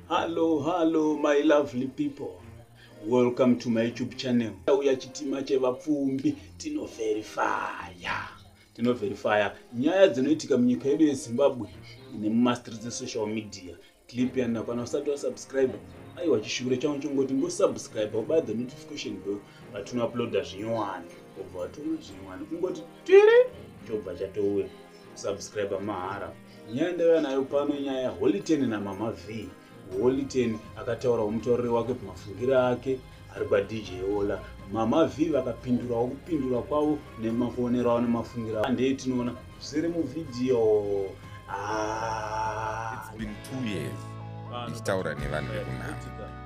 Hello, hello, my lovely people. Welcome to my YouTube channel. Uya chitima chevapfumbi tinoverifaya. Tinoverifaya nyaya dzinoitika munyika yedu yeZimbabwe nemumastreets dzesocial media. Clip yanakwana usati wasubscribe. Aiwa chishure changu chongoti ngosubscribe ubaya the notification bell patinouploada zvinyowani. Obva watoona zvinyowani kungoti tiri chobva chatouya. Subscribe mahara. Nyaya ndaiva nayo pano inyaya yaHoliten naMama Vee. Holiten akataurawo mutauriri wake pamafungiro ake ari kwaDJ Ola. Mama Vee vakapindurawo kupindura kwavo nemakuonero avo nemafungiro avo. Ndeye tinoona zviri muvhidhiyo. Ah. It's been two years ndichitaura nevanhu vekunhamo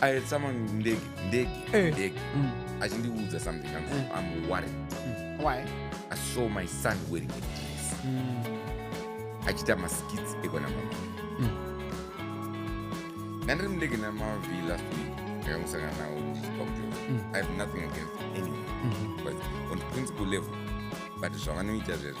i had someone ndege ndege Eh. ndege Mm. achindiudza something I'm, Eh. i'm worried Why? i saw my son wearing a dress Mm. achiita maskits ekwana mama Mm. ndandiri mundege namavi last week ndakamusangana nawo ndichipa kuti Mm. i have nothing against anyone Mhm. but on principle level but zvavanoita zvezvezvo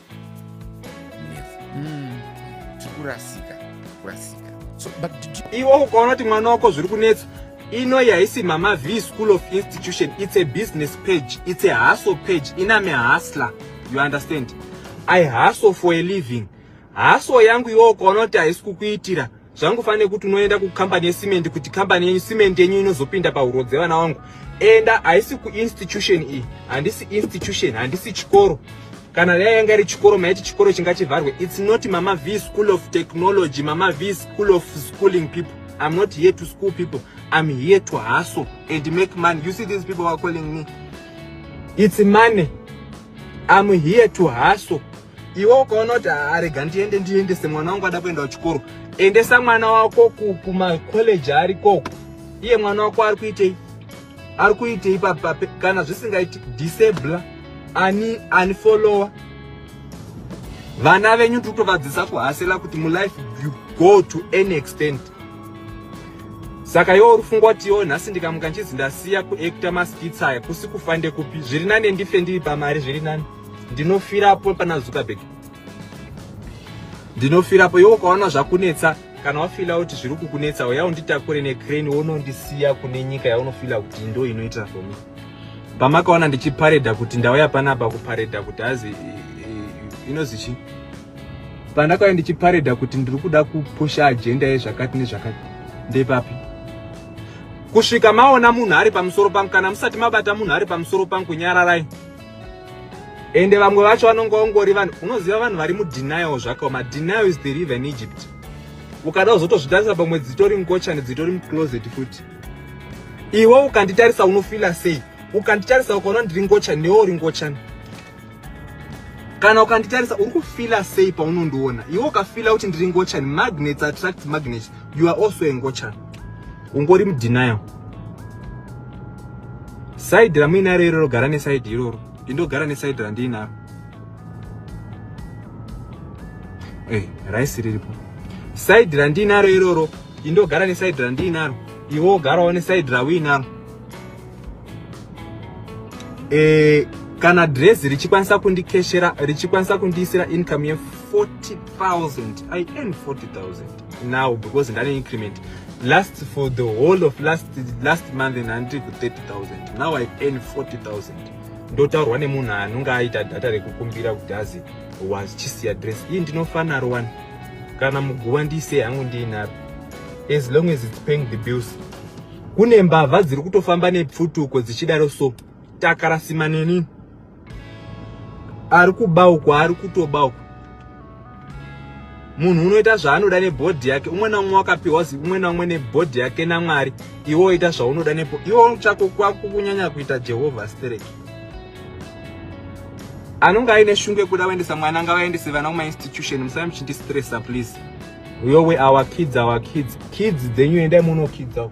mm. tikurasika kurasika so, but iwo ukaona kuti mwana wako zviri kunetsa inoyi haisi mama v school of institution its a business page its a hustle page iname hustler you understand i hustle for a living hustle yangu iwo ukaona kuti haisi kukuitira zvangu fane kuti unoenda kucompany yecement kuti company yenyu cement yenyu inozopinda pahuro dzevana wangu enda haisi kuinstitution iyi handisi institution handisi chikoro kana dai yanga iri chikoro maiti chikoro chingachivharwe its not mama v school of technology mama v school of schooling people i'm not here to school people i'm here to hustle and make money you see these people are calling me its money I'm here to hustle. Iwe ukaona kuti arega ndiende ndiendese mwana wangu ada kuenda kuchikoro. Endesa mwana wako kuma college ari koko. Iye mwana wako ari kuitei? Ari kuitei papa kana zvisingaiti disable ani ani follower. Vana venyu tikutovadzisa kuhasela kuti mu life you go to any extent. saka iwo uri fungwa kuti iwo nhasi ndikamuka nchizi ndasiya kuekta maskits aya kusi kufa ndekupi zviri nane ndife ndiri pamari zviri nani ndinofirapo pana zuckerberg ndinofirapo iwo ukaona zvakunetsa kana wafila kuti zviri kukunetsa uya unditakure necrane wonondisiya kune nyika yaunofila kuti ndo inoita for me pamakaona ndichipareda kuti ndauya panapa kupareda kuti hazi inozichii pandakauya ndichiparedha kuti ndiri kuda kupusha ajenda yezvakati nezvakati ndepapi kusvika maona munhu ari pamusoro pangu kana musati mabata munhu ari pamusoro pangu nyararai ende vamwe vacho vanonge ongori vanhu unoziva vanhu vari mudenial zvakaoma denial is the river in egypt ukada uzotozvitarisa pamwe dzitori mukochani dzitori mucloset futi iwe ukanditarisa unofila sei ukanditarisa ukaona ndiri ngochani newe uri ngochani kana ukanditarisa uri kufila sei paunondiona iwe ukafila kuti ndiri ngochani magnets attract magnets you are also a ngochani ungori mudenial saidi ramuinaro iroro gara nesaidi iroro indogara nesaidi randiinaro hey, eh, raisi riripo saidi randiinaro iroro indogara nesaidi randiinaro iwe ugarawo nesaidi rauinaro eh, kana dress richikwanisa kundikeshera richikwanisa kundiisira income ye 40000 i earn 40000 now because ndane increment last for the whole of last last month nhanditi ku 30000 now i earn 40000 ndotaurwa nemunhu anonge aita data rekukumbira kuti azi was chisiya dress iyi ndinofanaro wani kana muguva ndiise hangu ndiinapi as long as it's paying the bills kune mbavha dziri kutofamba nepfutuko dzichidaro so takarasima neni ari kuba uko ari kutoba uko munhu unoita zvaanoda nebhodhi yake umwe naumwe wakapiwa zi umwe naumwe nebhodhi yake namwari iwe oita zvaunoda nepo iwe chako kwako kunyanya kuita jehovha stereki anonge aine shungu yekuda kuendesa mwana ngavaendese vana kumainstitution musave muchindistressa please uyowe our kids our kids kids dzenyu endai munokidzao